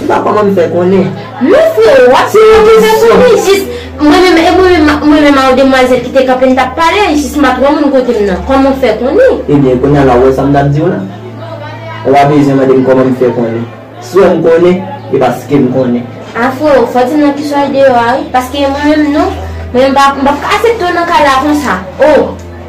Ou pa kòman m fè konnen. Non freo wap fè yon bagay pou mwen jis mwen menm e mwen menm ak mwen menm ak demwazèl ki te kanpe n tap pale jis m pat wè moun kote m nan kòman w fè konnen. Ebyen kounya la ou wè sa m tap di w la? Ou pa bezwen mande m kòman m fè konnen. Si w wè m konnen e paske m konnen. Ah freo fò w di m nan ki sòl deyò a wi paske mwen menm non mwen menm m pap ka asepte w nan kay la konsa oh.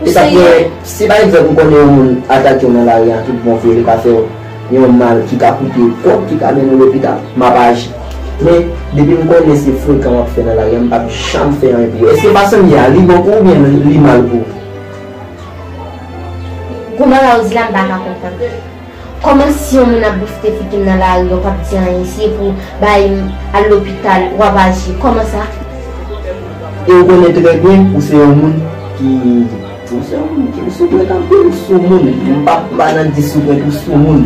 Ou se yon. Si pa egzanp ou konnen yon moun atake w nan lari a tout bon vre li ka fè w yon mal ki ka koute w kòb ki ka mennen w lopital, m ap aji. Men, depi m konnen se frekan w ap fè nan lari a m pap janm fè anyen pou ou. Èske fason m ye a li bon pou ou oubyen li mal pou ou? Gou manman ou di la m pa ka konprann. Kòman si yon moun ap boufte figim nan lari yo pap di anyen si epou bay al lopital wap aji kòman sa. E ou konnen trè byen ou se yon moun ki ou se yon moun ki soupret anpil ou sou moun m pa pa nan di soupret ou sou moun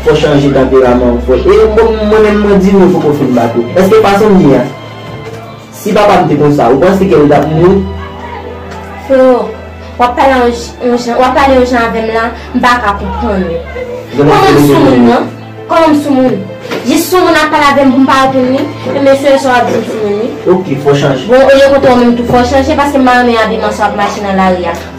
fò chanje tanperaman ou fò e bon mwen menm mwen di nou fòk ou fin bat ou èske fason m ye a Si papa m te konsa ou panse ke l tap mouri? Freo, wap pale yon jan, wap pale yon jan avè m la, m pa ka konprann ou. Koman m soumoun nan? Koman m soumoun? Jis soumoun ap pale avè m pou m pa reponn li? Enben se sa wap di m soumoun wi. Ok, fò chanje. Bon, olye koute ou menm tou fò chanje paske m pa renmen abiman sa wap mache nan lari a.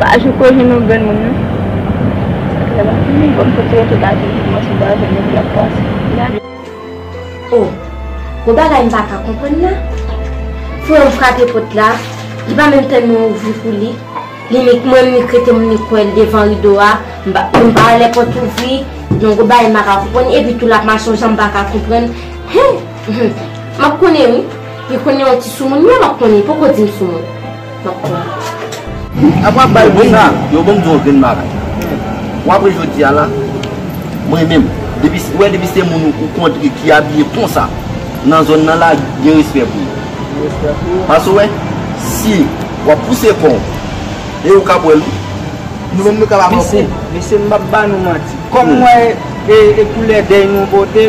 Pa jou ko jwenn yon grenn moun non. Sa fè lontan li bon kote yo tout aji pou kòmanse pa jwenn yo lap panse. Oh gon bagay m paka konprann la frè m frape pòt la li pa menm tèlman ouvri pou li li nik mwen nik rete m nik wè l devan rido a m pa m pa wè lè pòt ouvri non gon bagay m paka konprann epi tou lap mache yon jan m paka konprann hum hum map konnen wi li konnen yon ti soumoun wi map konnen li poko di m soumoun. Ap wap bay bon sa. Yo banm di yon grenn bagay. Ou apre jodi a la, mwen menm, depi, ou wè depi se moun ou kontre ki abiye konsa nan zòn nan la, gen respè pou ou. Gen respè pou ou. Paske ou wè, si wap pouse kò ou, e ou kap wè l wi. Nou menm nou kap avè w kou. Mesye, mesye m pap ba nou manti. Kòm m wè e koulè dèy nou pote.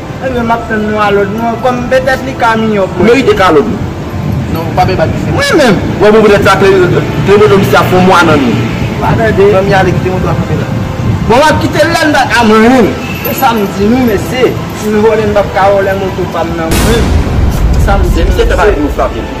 Ebyen map tann nou a lòd nou kòm petèt li ka miyò pou. Merite kalot wi. Non ou pa bay bak dife. Mwen menm. Bon pou petèt sa klemoto misye ap fon mwa nan nou. Pa tande. Fanmi ale kite moto a kanpe la. Bon map kitel la mpa ka manyenm. Se sam di nou mesye. Sin vòlè mpap ka vòlè moto pam nan mwen menm. Se sam di nou mesye.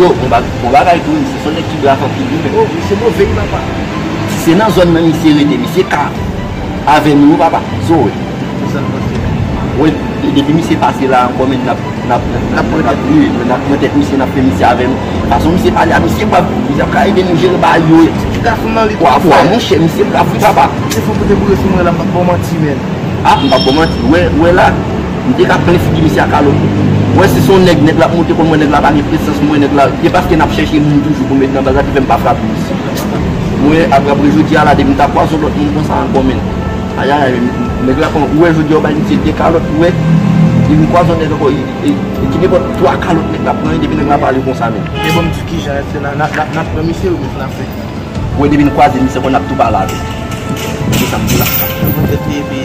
Yo, bon ba, bon bagay tou, misye son nèg ki black anpil wi men. Oh, misye move wi papa. Si se nan zòn nan misye rete, misye ka avè nou wi papa. Zoe. Ki sa n panse la? Wè, depi misye pase la ankò men nap, nap, nap pran tèt li wi. Nap pran tèt misye, nap fè misye avè nou. Fason misye pale a, misye brav tou. Misye ap ka ede nou jere bagay yo. Ti gason nan li twò fò. Wa, monchè, misye brav wi papa. Misye fò pote boure sou mwen la, m pap ba w manti menn. Ah, m pap ba w manti. Wè, wè la. M te ka plen figi misye ak alo tou. Mwen si son nèg nèg la ap monte kòl mwen nèg la pa gen presans mwen nèg la e paske nap chèche moun toujou pou met nan baz la ki fèm pa frape misye mwen ap raple jodi a la depi m ta kwaze yon lòt moun konsa ankò menn ayayay nèg la kon ou wè jodi a ou bay misye 2 kalòt ou wè depi m kwaze yon nèg ankò e ki nenpòt 3 kalòt nèg la pran depi nèg la pale konsa menn. E banm di kijan se la nap pran misye ou byen frape. Ou wè depi n kwaze misye ankò nap tou pale avèl. Gade sa m di la. Yon bon tèt li epi.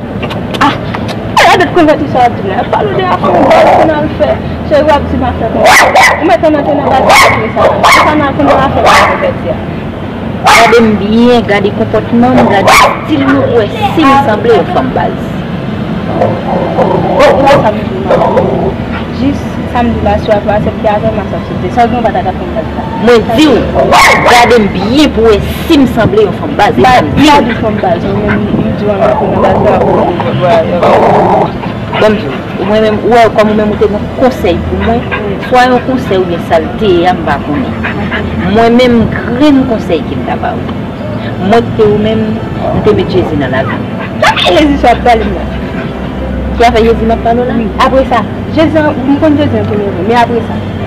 Gade m byen, gade konpòtman m, gade stil m pou w wè si m sanble yon fanm baz. Mwen diw gadem byen pou wè sim sanble yon fanm baz epa m diw. Banm diw ou mwen menm ou wè kòm ou menm ou te gon konsèy pou mwen swa yon konsèy oubyen sal te ye a m pa konnen mwen menm grenn konsèy kem ta ba ou mwen t te ou menm m te met jezi nan lavi m. Ki afè jezi sa wap pale la. Ki afè jezi map pale w la. Wi apresa jezi an m konn jezi an premye vre men apresa.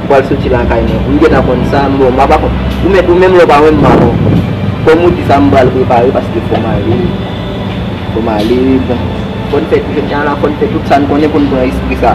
Ou pral soti lakay mwen pou m gentan konn sa, m bon m pa pa konn. Ou menm ou menm lè w pa wè m m pa konn. Kòm ou di sa m pral prepare paske fò m ale, fò m ale bon. Fò n fè jodi an la fò n fè tout sa n konnen pou n pran espri sa.